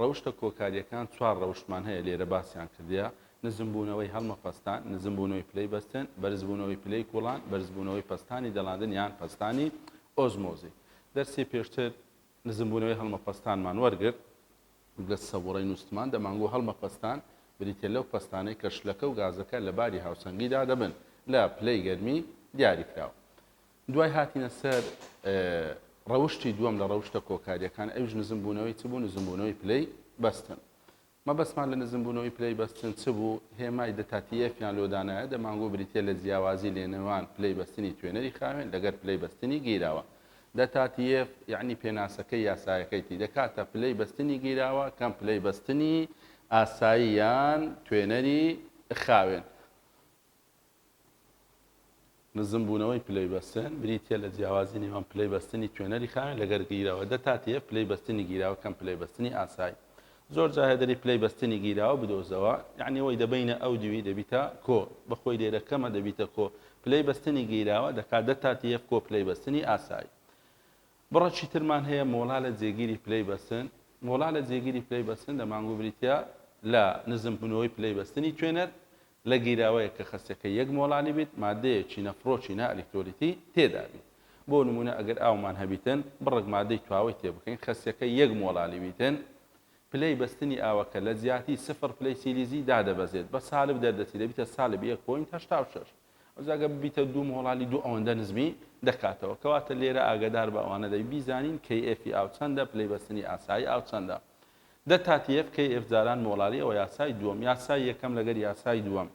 ڕەوشتە کۆکارییەکان چوار ڕەوشتمان هەیە لێرە باسیان کردیە، نزمبوونەوەی هەڵمەپەستان، نزمبوونەوەی پلەی بەستێن، بەرزبوونەوەی پلەی کوڵان، بەرزبوونەوەی پەستانی دەڵاندن یان پەستانی ئۆزمۆزی. دەرسی پێشتر نزمبوونەوەی هەڵمەپەستانمان وەرگرت. گەز سەبوڕەی نووستمان دەمانگۆ هەڵمەپەستان بریتیە لەو پەستانەی کە شلەکە و گازەکە لە باری هاوسەنگیدا دەبن لە پلەی گەرمی دیاریکراو. دوای هاتنە سەر ڕەوشتی دووەم لە ڕەوشتە کۆکاریەکان ئەوش نزم بوونەوەی چ بوو نزم بوونەوەی پلەی بەستن مەبەستمان لە نزم بوونەوەی پلەی بەستن چ بوو هێمای دەتاتیەفیان لۆدانایە دەمانگۆ بریتە لە جیاوازی لێنەوان پلەی بەستنی توێنەری خاوێن لەگەر پلەی بەستنی گیراوە دەتاتیەف یعنی پێناسەکەی یاسایەکەیتی دەکاتە پلەی بەستنی گیراوە کەم پلەی بەستنی ئاساییان توێنەری خاوێن نزمبوونەوەی پلەی بەستن، بریتییە لە جیاوازی نێوان پلەی بەستنی توێنەری خاوێن لەگەر گیراوە، دە تا تف پلەی بەستنی گیراوە کەم پلەی بەستنی ئاسای. زۆر جا هێدری پلەی بەستنی گیراوە بدۆزەوە، یانی وەی دە بەینە ئەو دووی دەبیتە کۆ، بە خۆی لێرە کەمە دەبیتە کۆ پلەی بەستنی گیراوە دەکات دە تا تف کۆ پلەی بەستنی ئاسای. بڕەکی ترمان هەیە مۆڵا لە جێگیری پلەی بەستن، مۆڵا لە جێگیری پلەی بەستن دەمانگوو بریتییە لە نزمبوونەوەی پلەی بەستنی توێنەر لە گیراوەیەک کە خەستەکەی یەک مۆڵانی بیت مادەیە چینە فڕۆکی نا ئەلیکتۆلیتی تێدا بیت بۆ نموونە ئەگەر ئاومان هەبیتن بڕەک مادەی تواوەی تێ بکەین خەستەکەی یەک مۆڵانی بیتن پلەی بەستنی ئاوەکە لە جیاتی سفر پلەی سیلیزی دادەبەزێت بە سالب دەردەچی دەبیتە سالب یەک پۆینت هەشتا و شەش ئەوجا گەر ببیتە دوو مۆڵانی دوو ئەوەندە نزمی دەکاتەوە کەواتە لێرە ئاگەدار بە ئەوانە دەبی بیزانین کەی ئێفی ئاو چەندە پلەی بەستنی ئاسایی ئاو چەندە دە تا تی ئێف کەی ئێف جاران مۆڵالی ئەوە یاسای دووەم یاسای یەکەم لەگەر یاسای دووەم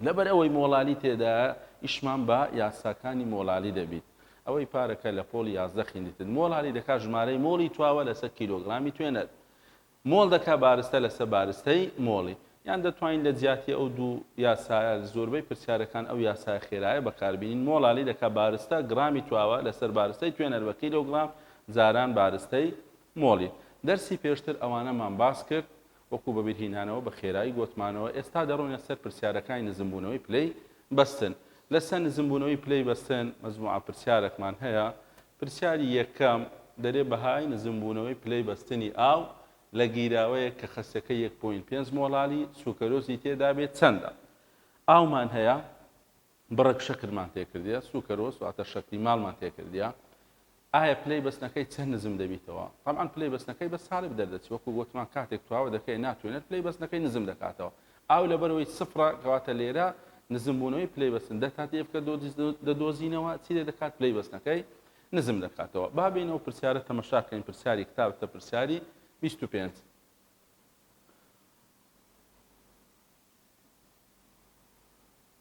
لەبەر ئەوەی مۆڵالی تێدایە ئیشمان بە یاساکانی مۆڵالی دەبیت ئەوەی پارەکە لە پۆڵی یازدە خیندتن مۆڵالی دەکا ژمارەی مۆڵی تواوە لەسە کیلۆگرامی توێنەر مۆڵ دەکا بارستە لەسە بارستەی مۆڵی یان دەتوانین لە جیاتی ئەو دوو یاسایە زۆربەی پرسیارەکان ئەو یاسایە خێرایە بەکاربینین مۆڵالی دەکا بارستە گرامی تواوە لەسەر بارستەی توێنەر بە کیلۆگرام جاران بارستەی مۆڵی دەرسی پێشتر ئەوانەمان باس کرد وەکو بەبیرهینانەوە بە خێرایی گۆتمانەوە ئێستا دەڕۆینە سەر پرسیارەکانی نزمبوونەوەی پلەی بەستن لەسەر نزمبوونەوەی پلەی بەستن مەجموعە پرسیارەکمان هەیە پرسیاری یەکەم دەرێ بەهای نزمبوونەوەی پلەی بەستنی ئاو لە گیراوەیەک کە خەسەکەی یەک پۆینت پێنج مۆڵالی سوکەرۆزی تێدابێت چەندە؟ ئاومان هەیە؟ بڕێک شەکرمان تێکردیە سوکەرۆس واتە شەکری ماڵمان تێکردیە ئایا پلەی بەستنەکەی چەند نزم دەبیتەوە تەبعەن پلەی بەستنەکەی بە سالب دەردەچی وەکو گۆتمان کاتێک تواوە دەکەی ناتوێنێت پلەی بەستنەکەی نزم دەکاتەوە ئاو لەبەرەوەی سفرە کەواتە لێرە نزم بوونەوەی پلەی بەستن دە تا دێفکە دەدۆزینەوە چی لێ دەکات پلەی بەستنەکەی نزم دەکاتەوە با بین ئەو پرسیارە تەمەشاکەین پرسیاری کتابتە پرسیاری 25 25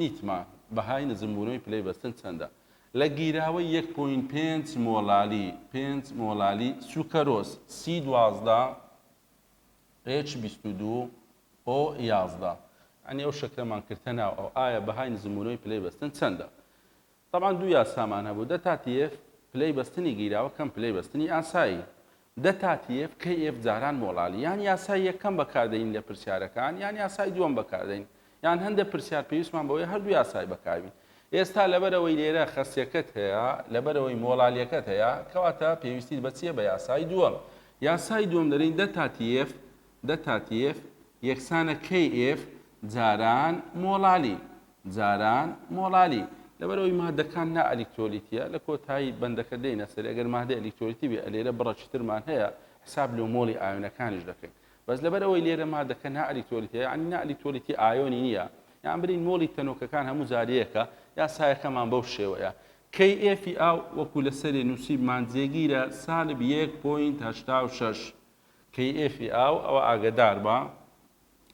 نیتما، بەهای نزمبوونەوەی پلەی بەستن چەندە؟ لە گیراوەی یەک پۆینت پێنج مۆلالی پێنج مۆلالی سوکەرۆس، سی دوازدە، ئێچ بیست و دوو، ئۆ یازدە، یانی ئەو شەکرەمان کردتە ناو ئەو، ئایا بەهای نزمبوونەوەی پلەی بەستن چەندە؟ تەبعەن دوو یاسامان هەبوو، دە تا تیێف، پلەی بەستنی گیراوە کەم پلەی بەستنی ئاسایی، دە تا تیێف، کەیێف، جاران مۆڵالی، یان یاسای یەکەم بەکاردەین لە پرسیارەکان یان یاسای دووەم بەکاردەین، یان هەندە پرسیار پێویستمان بەوەیە هەردوو یاسای بەکاربین. ئێستا لەبەرئەوەی لێرە خەستیەکەت هەیە، لەبەرئەوەی مۆڵالیەکەت هەیە، کەواتە پێویستیت بە چیە بە یاسای دووەم. یاسای دووەم دەرێین دە تا تیێف، دە تاتیف یەکسانە کەیف جاران مۆڵالی جاران مۆڵالی لەبەرئەوەی مادەکان نا ئەلیکترۆلیتیە لە کۆتایی بەندەکە دێینە سەری ئەگەر مادە ئەلیکترۆلیتی بێ ئەلێرە بڕە چترمان هەیە حساب لۆ مۆڵی ئایۆنەکانیش دەکەین بەس لەبەرئەوەی لێرە مادەکە نا ئەلیکترۆلیتیە یعنی نا ئەلیکترۆلیتی ئایۆنی نییە یان برین مۆڵی تەنۆکەکان هەموو جاریەکە یاسایەکەمان بەو شێوەیە کەی ئێفی ئاو وەکو لەسەری نووسیبمان جێگیرە سالب یەک پۆینت هەشتا و شەش کەیئفی ئاو ئەوە ئاگەدار بە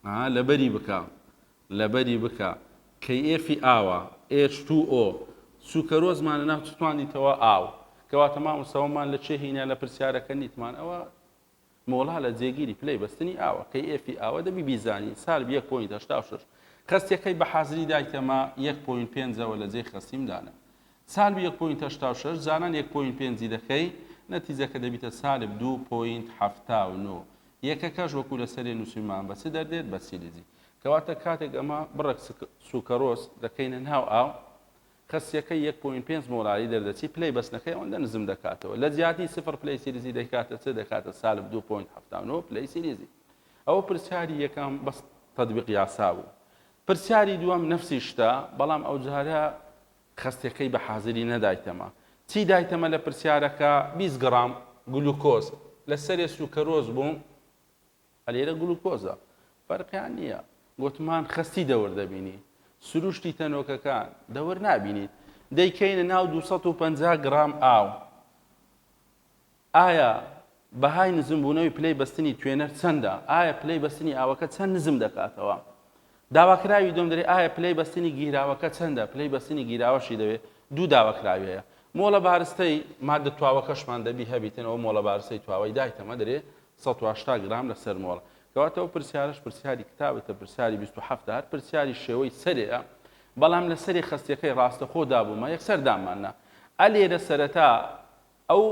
ئا لەبەری بکە لەبەری بکە کەیئفی ئاوە ئێچ توو ئۆ سوکەرۆز مانە ناو چتوانیتەوە ئاو کەواتە مامۆستا وەمان لە چێ هینا لە پرسیارەکە نیتمان ئەوە مۆڵا لە جێگیری پلەی بەستنی ئاوە کەیئفی ئاوە دەبی بیزانی سالب یەک پۆینت هەشتا و شەش خەستیەکەی بە حازری دایتەمە یەک پۆینت پێنجەوە لە جێی خەستیم دانە سالب یەک پۆینت هەشتا و شەش جاران یەک پۆینت پێنج ی دەکەی نەتیجەکە دەبیتە سالب دوو پۆینت حەفتا و نۆ یەکەکەش وەکو لەسەرێ نوسیومان بە چ دەردێت بە سیلیزی کەواتە کاتێک ئەمە بڕێک سوکەرۆس دەکەینە ناو ئاو خەسیەکەی یەک پۆینت پێنج مۆلالی دەردەچی پلەی بەستنەکەی ئەوەندە نزم دەکاتەوە لە جیاتی سفر پلەی سیلیزی دەکاتە چ دەکاتە سالب دوو پۆینت حەفتا و نۆ پلەی سیلیزی ئەوە پرسیاری یەکەم بەس تەدبیق یاسا بوو پرسیاری دووەم نەفسی شتە بەڵام ئەوجارە خەستەکەی بە حازری نەدایتەمە. چی دایتەمە لە پرسیارەکە؟ بیست گڕام گلوکۆز. لە سەرێ سوکەرۆز بووم. ئە لێرە گلوکۆزە. فەرقیان نییە. گۆتمان خەستی دەور دەبینی. سروشتی تەنۆکەکان دەور نابینیت. دەیکەینە ناو دوو سەد و پەنجا گڕام ئاو. ئایا بەهای نزمبوونەوەی پلەی بەستنی توێنەر چەندە؟ ئایا پلەی بەستنی ئاوەکە چەند نزم دەکاتەوە؟ داواکراوی دووەم دەرێ ئایا پلەی بەستنی گیراوەکە چەندە؟ پلەی بەستنی گیراوەشی دەوێ دوو داواکراوی هەیە مۆڵە بارستەی ماددە تواوەکەشمان دەبی هەبیتن ئەوە مۆڵە بارستەی تواوەی دایتەمە دەرێ سەد و هەشتا گرام لەسەر مۆڵ کەواتە ئەو پرسیارەش پرسیاری کتابتە پرسیاری بیست و حەفت هەر پرسیاری شێوەی سەرێیە بەڵام لەسەری خەستیەکەی ڕاستەخۆ دابوومە یەکسەر داماننا ئەلێرە سەرەتا ئەو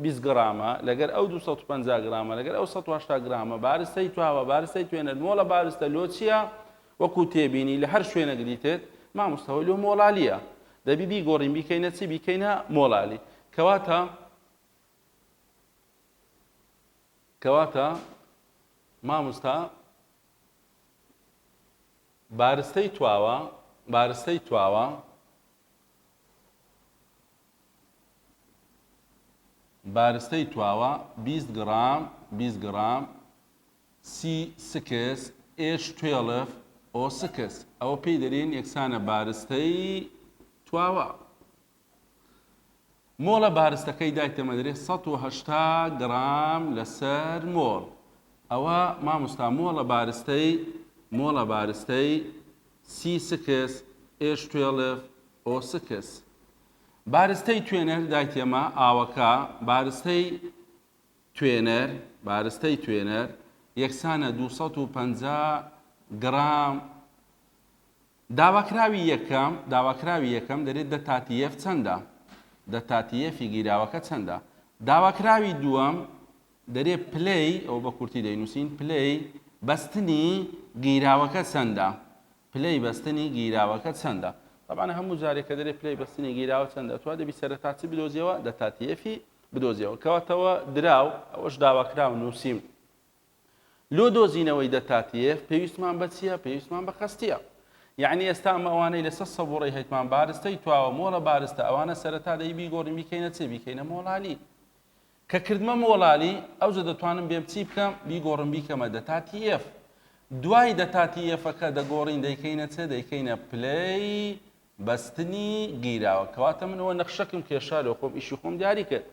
بیست گرامە لەگەر ئەو دوو سەد و پەنجا گرامە لەگەر ئەو سەد و هەشتا گرامە بارستەی تواوە بارستەی توێنەر مۆڵە بارستە لۆ چیە وەکو تێبینی لە هەر شوێنەک دیتێت مامۆستا هۆی لۆ مۆڵالیە دەبی بیگۆڕین بیکەینە چی بیکەینە مۆڵالی کەواتە کەواتە مامۆستا بارستەی تواوە بارستەی تواوە بارستەی تواوە بیست گڕام بیست گڕام سی سکس ئێچ توێڵف ئۆ سکس ئەوە پێی دەرێن یەکسانە بارستەی تواوە مۆڵە بارستەکەی دایتەمەدرێ سەد و هەشتا گڕام لەسەر مۆڵ ئەوە مامۆستا مۆڵە بارستەی مۆڵە بارستەی سی سکس ئێش توێڵف ئۆ سکس بارستەی توێنەر دایتێمە ئاوەکە بارستەی توێنەر بارستەی توێنەر یەکسانە دوو سەد و پەنجا گڕام داواکراوی یەکەم داواکراوی یەکەم دەرێت دە تاتیەف چەندە دە تاتیەفی گیراوەکە چەندە داواکراوی دووەم دەرێ پلەی، ئەوە بە کورتی دەینووسین، پلەی بەستنی گیراوەکە چەندە؟ پلەی بەستنی گیراوەکە چەندە؟ تەبعەن هەموو جارێ کە دەرێ پلەی بەستنی گیراوە چەندە، ئەتووا دەبی سەرەتا چ بدۆزیەوە؟ دەتا تیەفی بدۆزیەوە. کەواتەوە دراو، ئەوەش داواکراو نووسیم. لۆ دۆزینەوەی دەتا تیەف پێویستمان بە چییە؟ پێویستمان بە خەستییە. یەعنی ئێستا ئەمە ئەوانەی لەسەر سەبووڕەی هەیتمان بارستەی تواوە، مۆڵە بارستە، ئەوانە سەرەتا دەی بیگۆڕین بیکەینە چ؟ بیکەینە مۆڵانی. کە کردمە مۆڵالی ئەوجە دەتوانم بێم چی بکەم بیگۆڕم بیکەمە دەتا تی ئێف دوای دەتا تی ئێفەکە دەگۆڕین دەیکەینە چ دەیکەینە پلەی بەستنی گیراوە کەواتە من ئەوە نەخشەکم کێشا لۆ خۆم ئیشی خۆم دیاری کرد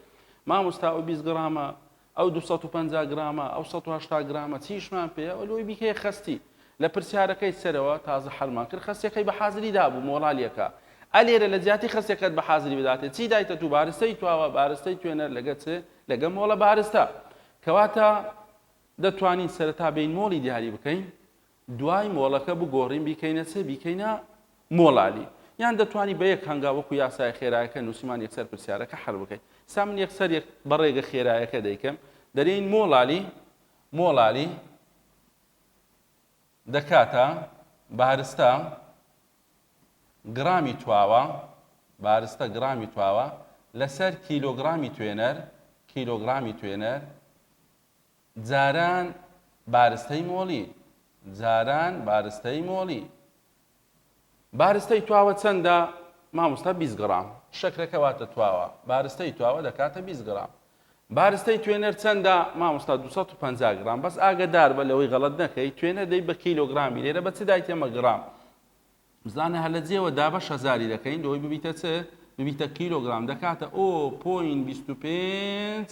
مامۆستا ئەو 20 گرامە ئەو 250 گرامە ئەو 180 گرامە چیشمان پێ ئەو لۆی بیکەی خەستی لە پرسیارەکەی سەرەوە تازە حەلمان کرد خەسیەکەی بە حازری دابوو مۆرالیەکە ئە لێرە لە جیاتی خەسیەکەت بە حازری بداتێ چی دایتە توو بارستەی تواوە بارستەی توێنەر لەگە چ لەگە مۆڵە بارستە کەواتە دەتوانین سەرەتا بێین مۆڵی دیاری بکەین دوای مۆڵەکە بگۆڕین بیکەینە چ بیکەینە مۆڵالی یان دەتوانی بە یەک هەنگا وەکو یاسای خێرایەکە نووسیمان یەکسەر پرسیارەکە حەل بکەین سا من یەکسەر یەک بەڕێگە خێرایەکە دەیکەم دەرێین مۆڵالی مۆڵالی دەکاتە بارستە گڕامی تواوە، بارستە گڕامی تواوە، لەسەر کیلۆگڕامی توێنەر، کیلۆگڕامی توێنەر، جاران بارستەی مۆڵی، جاران بارستەی مۆڵی. بارستەی تواوە چەندە مامۆستا بیست گڕام شەکرەکە واتە تواوە بارستەی تواوە دەکاتە بیست گڕام بارستەی توێنەر چەندە مامۆستا دوو سەد و پەنجا گڕام بەس ئاگەدار بە لەوەی غەڵەت نەکەی توێنەر دەی بە کیلۆگرامی لێرە بە چ دایتە مە گڕام بزانە هەر لە جێوە دا بەش هەزاری دەکەین لەوەی ببیتە چ ببیتە کیلۆگرام دەکاتە ئۆ پۆین بیست و پێنج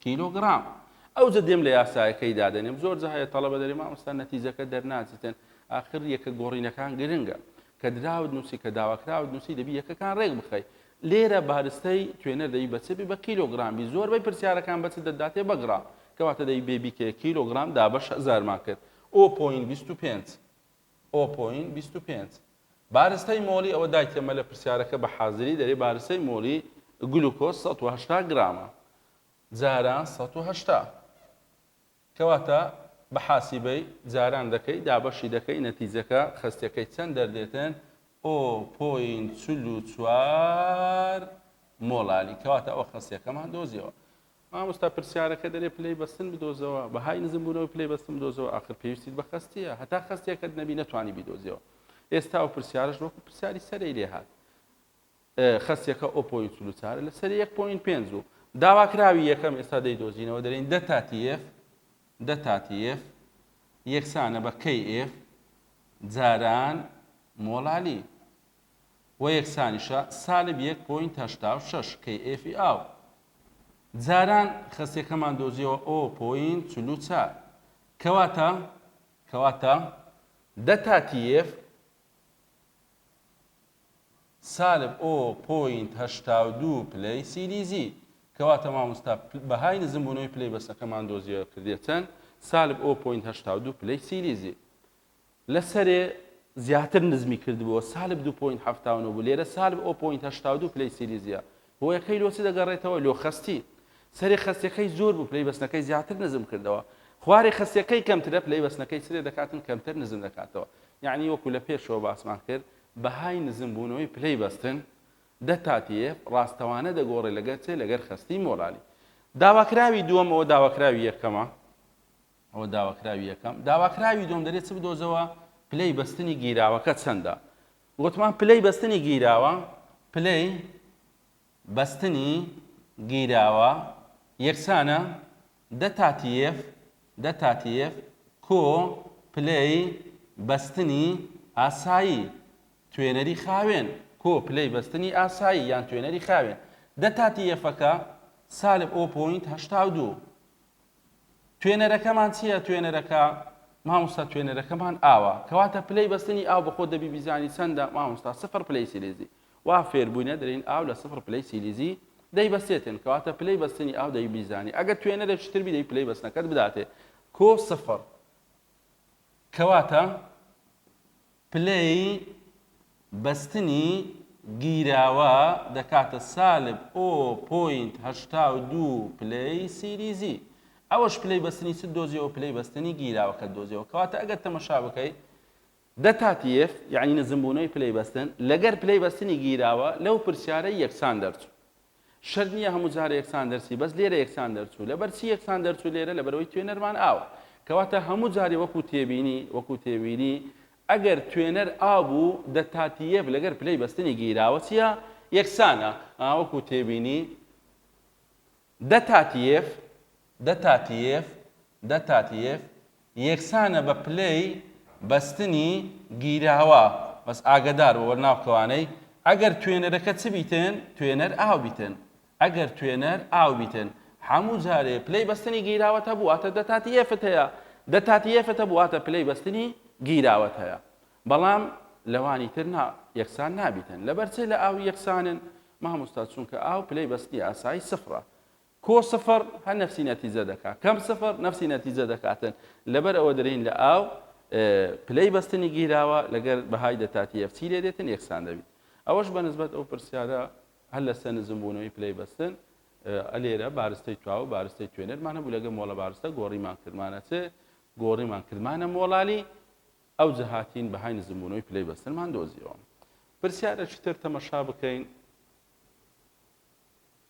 کیلۆگرام ئەوجە دێم لە یاسایەکەی دادەنێم زۆرجە هەیە تەڵەبە دەرێ مامۆستا نەتیجەکە دەرناچیتن ئاخر یەکە گۆڕینەکان گرنگە کە دراوت نووسی کە داواکراوت نووسی دەبی یەکەکان ڕێک بخەی لێرە بارستەی توێنەر دەبی بە چ بی بە کیلۆگرام بی زۆربەی پرسیارەکان بە چ دەداتێ بە گرام کەواتە دەبی بێ بیکەیە کیلۆگرام دابەش هەزارمان کرد ئۆ پۆین بیست و پێنج ئۆپۆین بیست و پێنج. بارستەی مۆلی ئەوە دایتیە مەلە پرسیارەکە بە حازری دەرێ بارستەی مۆلی گلوکۆز سەد و هەشتا گرامە جاران سەد و هەشتا کەواتە بە حاسیبەی جاران دەکەی دابەشی دەکەی نەتیجەکە خەستەکەی چەند دەردێتێن ئۆپۆین چل و چوار مۆلالی کەواتە ئەوە خەستەکەمان دۆزیەوە مامۆستا پرسیارەکە دەرێ پلەی بەستن بدۆزەوە بەهای نزم بوونەوەی پلەی بەستن بدۆزەوە ئاخر پێویستیت بە خەستیە هەتا خەستیەکەت نەبی نەتوانی بیدۆزیەوە ئێستا و پرسیارش وەکو پرسیاری سەرەی لێ هات خەستیەکە ئۆپۆی چلو چارە لە سەری 1.5 و داواکراوی یەکەم ئێستا دەی دۆزینەوە دەرین دە تاتیف دە تاتیف یەکسانە بە کەی ئف جاران مۆڵالی و یەکسانیشە سالب یەک پۆینت هەشتا و شەش kf ی ئاو. جاران خەستیەکەمان دۆزیەوە ئۆ پۆینت چل و چار. کەواتە کەواتە دە تا tf سالب ئۆ پۆینت هەشتا و دوو پلەی سیلیزی. کەواتە مامۆستا بەهای نزمبوونەوەی پلەی بەسەکەمان دۆزیەوە کردیە چەند؟ سالب ئۆ پۆینت هەشتا و دوو پلەی سیلیزی. لەسەرێ زیاتر نزمی کردبووە، سالب دوو پۆینت حەفتا و نۆ بوو، لێرە سالب ئۆ پۆینت هەشتا و دوو پلەی سیلیزیە. هۆیەکەی لۆ چ دەگەڕێتەوە؟ لۆ خەستی. سەرێ خەستیەکەی زۆر بوو، پلەی بەستنەکەی زیاتر نزم کردەوە. خوارێ خەستیەکەی کەمترە، پلەی بەستنەکەی چ لێ دەکاتن؟ کەمتر نزم دەکاتەوە. یەعنی وەکو لە پێشەوە باسمان کرد، بەهای نزم بوونەوەی پلەی بەستن، دە تا تی ئێف، ڕاستەوانە دەگۆڕێ لەگەر چێ؟ لەگەر خەستی مۆلالی. داواکراوی دووەم ئۆ داواکراوی یەکەمە. ئەوە داواکراوی یەکەم. داواکراوی دووەم دەرێ چ بدۆزەوە پلەی بەستنی گیراوەکە چەندە؟ گۆتمان پلەی بەستنی گیراوە پلەی بەستنی گیراوە یەکسانە دە تاتیێف دە تاتیێف کۆ پلەی بەستنی ئاسایی توێنەری خاوێن کۆ پلەی بەستنی ئاسایی یان توێنەری خاوێن دە تاتیێفەکە سالب ئۆ پۆینت هەشتا و دوو توێنەرەکەمان چیە توێنەرەکە؟ مامۆستا توێنەرەکەمان ئاوە کەواتە پلەی بەستنی ئاو بەخۆ دەبی بیزانی چەندە مامۆستا سفر پلەی سیلیزی وا فێر بووینە دەرین ئاو لە سفر پلەی سیلیزی دەی بەسێتن کەواتە پلەی بەستنی ئاو دەی بیزانی ئەگەر توێنەرێکی تر بیدەی پلەی بەستنەکەت بداتێ کۆ سفر کەواتە پلەی بەستنی گیراوە دەکاتە سالب ئۆ پۆینت هەشتا و دوو پلەی سیریزی. ئەوەش پلەی بەستنی چت دۆزیەوە پلەی بەستنی گیراوەکەت دۆزیەوە کەواتە ئەگەر تەمەشا بکەی دە تا تیێف یانی نزمبوونەوەی پلەی بەستن لەگەر پلەی بەستنی گیراوە لەو پرسیارەی یەکسان دەرچوو شەرت نیە هەموو جارە یەکسان دەرچی بەس لێرە یەکسان دەرچوو لەبەر چی یەکسان دەرچوو لێرە لەبەرەوەی توێنەرمان ئاوە کەواتە هەموو جارێ وەکو تێبینی وەکو تێبینی ئەگەر توێنەر ئا بوو دە تاتیەف لەگەر پلەی بەستنی گیراوە چیە یەکسانە ئا وەکو تێبینی دە تاتیەف دە تاتیێف، The Tatiev، یەکسانە بە پلەی بەستنی گیراوە، بەس ئاگەدار بە وەرناو کەوانەی، ئەگەر توێنەرەکە چ بیتن؟ توێنەر ئاو بیتن، ئەگەر توێنەر ئاو بیتن، هەموو جارێ پلەی بەستنی گیراوەت هەبوو واتە دە تاتیێفت هەیە، دە تاتیێفت هەبوو واتە پلەی بەستنی گیراوەت هەیە، بەڵام لەوانی تر نا، یەکسان نابیتن، لەبەر چی لە ئاو یەکسانن؟ مامۆستا چونکە ئاو پلەی بەستنی ئاسایی سفرە، کۆ سفر هەر نەفسی نەتیجە دەکات کەم سفر نەفسی نەتیجە دەکاتن لەبەر ئەوە درین لە ئاو پلەی بەستنی گیراوە لەگەر بەهای دەتاتی ئەفسی لێ دێتن یەکسان دەبیت ئەوەش بە نسبەت ئەو پرسیارە هەر لە سەنزم بوونەوەی پلەی بەستن ئەلێرە بارستەی تواوە بارستەی توێنەرمان هەبوو لەگە مۆڵە بارستە گۆڕیمان کردمانە چ گۆڕیمان کردمانە مۆڵالی ئەو جەهاتین بەهای نزمبوونەوەی پلەی بەستنمان دۆزیەوە پرسیارە چتر تەمەشا بکەین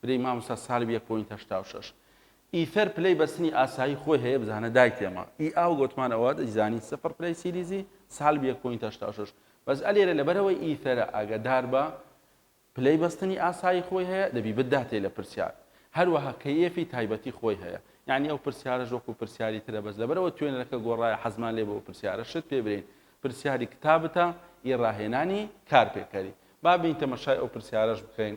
برێی ماموستا سالب یەک پۆینت هەشتا و شەش ئیثەر پلەی بەستنی ئاسایی خۆی هەیە بزانە دای تێما ئی ئاو گۆتمان ئەوە دەیزانی سفر پلەی سیریزی سالب یەک پۆینت هەشتا و شەش بەس ئەلێرە لەبەرەوەی ئیثەرە ئاگەدار بە پلەی بەستنی ئاسایی خۆی هەیە دەبی بداتێ لە پرسیار هەروەها کەیەفی تایبەتی خۆی هەیە یعنی ئەو پرسیارە ژۆکو پرسیاری ترە بەس لەبەرەوە توێنەرەکە گۆڕایە حەزمان لێ بۆ پرسیارە شت پێ برین پرسیاری کتابتە ئی ڕاهێنانی کارپێکەری با بین تەمەشای ئەو پرسیارەش بکەین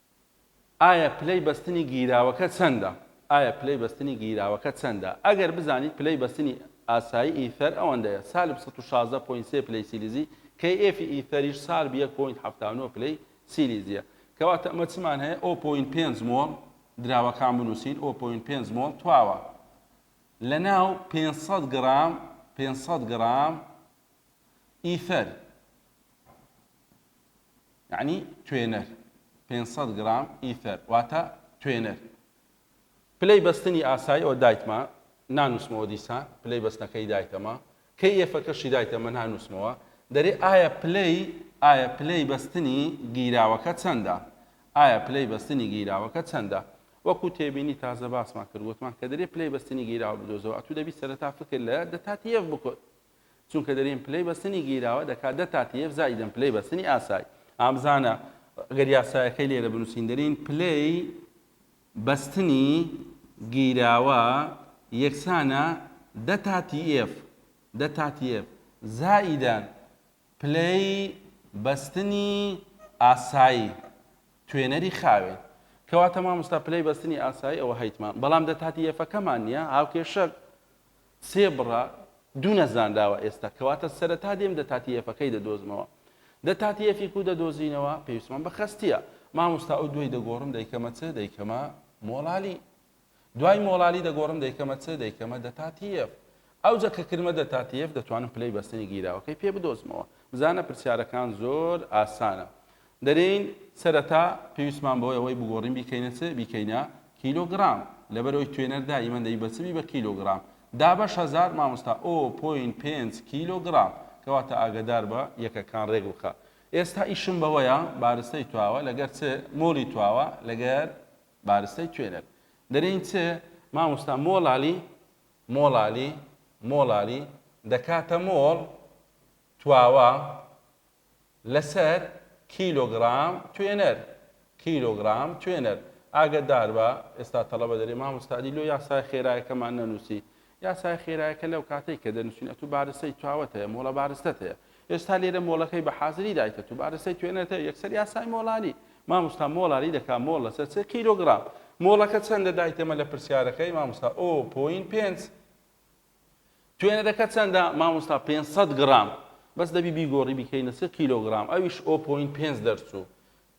ئایا پلەی بەستنی گیراوەکە چەندە؟ ئایا پلەی بەستنی گیراوەکە چەندە؟ ئەگەر بزانیت پلەی بەستنی ئاسایی ئیثەر ئەوەندەیە، سالب سەد و شازدە پۆینت سێ پلەی سیلیزی، کەی ئێفی ئیثەریش سالب یەک پۆینت حەفتا و نۆ پلەی سیلیزییە. کەواتە ئەمە چمان هەیە؟ ئۆ پۆینت پێنج مۆڵ، دراوەکان بنووسین، ئۆ پۆینت پێنج مۆڵ تواوە لەناو پێنج سەد گرام، پێنج سەد گرام ئیثەر. یەعنی توێنەر پێنج سەد گڕام ئیثەر واتە توێنەر پلەی بەستنی ئاسای ئەوە دایتمە نانوسمەوە دیسان پلەی بەستنەکەی دایتەمە کەی یەفەکەشی دایتە من هانوسمەوە دەرێ ئایا پلەی ئایا پلەی بەستنی گیراوەکە چەندە ئایا پلەی بەستنی گیراوەکە چەندە وەکو تێبینی تازە باسمان کرد وتمان کە دەرێ پلەی بەستنی گیراوە بدۆزەوە ئەتو دەبی سەرەتا فکر لە دەتات یەف بکۆت چونکە دەرێن پلەی بەستنی گیراوە دەکات دە تا تیەف زائیدەن پلەی بەستنی ئاسای. ئا بزانە گەر یاسایەکەی لێرە بنووسین دەرێن پلەی بەستنی گیراوە یەکسانە دە تا تیەف دە تا تیەف زائیدەن پلەی بەستنی ئاسایی توێنەری خاوێن. کەواتە مامۆستا پلەی بەستنی ئاسایی ئەوە هەیتمان بەڵام دە تا تیەفەکەمان نیە هاوکێشەک سێ بڕە دوو نەزانراوە ئێستا کەواتە سەرەتا دێم دە تاتیەفەکەی دەدۆزمەوە دە تاتیەفی کو دەدۆزینەوە پێویستمان بە خەستیە ماموستا ئەو دوی دەگۆڕم دەیکەمە چ دەیکەمە مۆڵالی دوای مۆڵالی دەگۆڕم دەیکەمە چ دەیکەمە دە تاتیەف ئەوجە کە کرمە دە تاتیەف دەتوانم پلەی بەستنی گیراوەکەی پێ بدۆزمەوە بزانە پرسیارەکان زۆر ئاسانە دەرێین سەرەتا پێویستمان بەوەی ئەوەی بگۆڕین بیکەینە چ؟ بیکەینە کیلۆ گڕام لەبەرەوەی توێنەر دا ئیمە دەی بە چ بی بە کیلۆ گڕام دا بەش هەزار مامۆستا ئۆ پۆین پێنج کیلۆ گڕام کەواتە ئاگەدار بە یەکەکان رێک بخە ئێستا ئیشم بەوەیە بارستەی تواوە لەگەر چ؟ مۆلی تواوە لەگەر بارستەی توێنەر دەرێین چ؟ مامۆستا مۆڵالی مۆڵالی مۆڵالی دەکاتە مۆڵ تواوە لەسەر کیلۆگرام توێنەر کیلۆگرام توێنەر ئاگەداربە ئێستا تەڵەبە دەرێ مامۆستا دی لۆ یاسای خێرایەکەمان نەنووسی یاسای خێرایەکە لەو کاتەی کە دەنووسین ئەتوو بارستەی چاوت هەیە مۆڵە بارستەت هەیە ئێستا لێرە مۆڵەکەی بە حازری دایتە تو بارستەی توێنەت هەیە یەکسەر یاسای مۆڵانی مامۆستا مۆڵانی دەکا مۆڵ لەسەر سێ کیلۆگرام مۆڵەکە چەندە دایتەمە لە پرسیارەکەی مامۆستا ئۆ پۆین پێنج توێنەرەکە چەندە مامۆستا پێنج سەد گڕام بەس دەبی بیگۆڕی بیکەینە سێ کیلۆگرام ئەویش ئەو پۆینت پێنج دەرچوو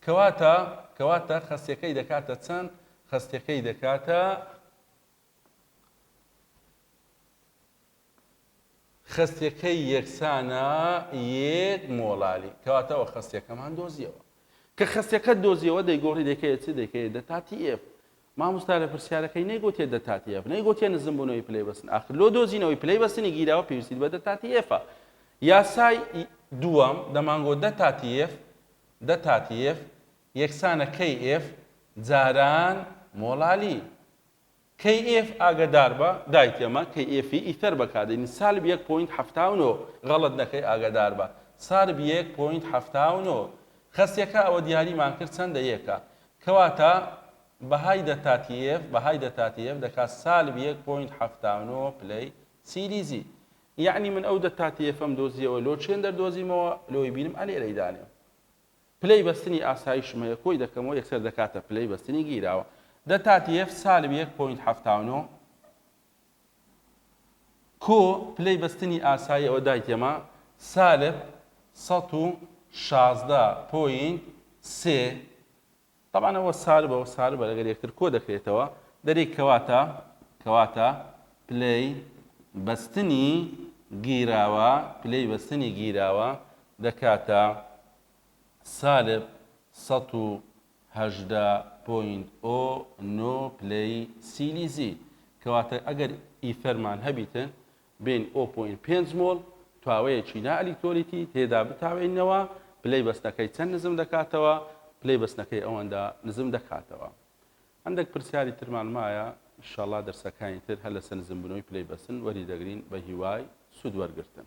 کەواتە کەواتە خەستەکەی دەکاتە چەند خەستەکەی دەکاتە خەستەکەی یەکسانە یەک مۆڵالی کەواتەوە خەستەکەمان دۆزیەوە کە خەستەکە دۆزیەوە دەیگۆڕی دەکەێت چ دەکەێت دەتاتی ئف ماموستا لە پرسیارەکەی نەیگۆ تێ دە تاتی ئێف نەیگۆ تێ نزم بونەوەی پلەی بەستن ئاخر لۆ دۆزینەوەی پلەی بەستنی گیراوە پێویستیت بە دە تاتی ئێفە یاسای دووەم دەمانگۆ دە تاتی ئێف دە تاتی ئێف یەکسانە کەی ئێف جاران مۆڵالی کەی ئێف ئاگەدار بە دایت ئەمە کەی ئێفی ئیتەر بەکاردێنی سالب یەک پۆینت حەفتا و نۆ غەڵەت نەکەی ئاگەدار بە سارب یەک پۆینت حەفتا و نۆ خەسیەکە ئەوە دیاریمان کرد چەندە یەکە کەواتە بەهای دەتاتیێڤ بەهای دەتاتیێڤ دەکات سالب یەک پۆینت حەفتا و نۆ پلەی سیلیزی. یەعنی من ئەو دەتاتیێفەم دۆزیەوە لۆ چێن دەردۆزیمەوە لۆی بینم ئەلێ لێی دانێم. پلەی بەستنی ئاسایشم هەیە کۆی دەکەمەوە یەکسەر دەکاتە پلەی بەستنی گیراوە. دەتاتیێڤ سالب یەک پۆینت حەفتا و نۆ. کۆ پلەی بەستنی ئاسایی ئەوە دایتێما سالب سەد و شازدە پۆینت سێ تەبعەن ئەوە سالبە و سالبە لەگەر یەکتر کۆ دەکرێتەوە دەرێی کەواتە کەواتە پلەی بەستنی گیراوە پلەی بەستنی گیراوە دەکاتە سالب سەد و هەژدە پۆینت ئۆ نۆ پلەی سیلیزی، کەواتە ئەگەر ئیثەرمان هەبیتن بین ئۆ پۆینت پێنج مۆڵ تواوەیەکی نا ئەلیکترۆلیتی تێدا بتاوێینەوە، پلەی بەستنەکەی چەند نزم دەکاتەوە؟ پلەی بەستنەکەی ئەوەندە نزم دەکاتەوە. هەندەک پرسیاری ترمان مایە انشاللە دەرسەکانی تر هەر لەسەر نزم بونەوەی پلەی بەستن وەری دەگرین بەهیوای سود وەرگرتن.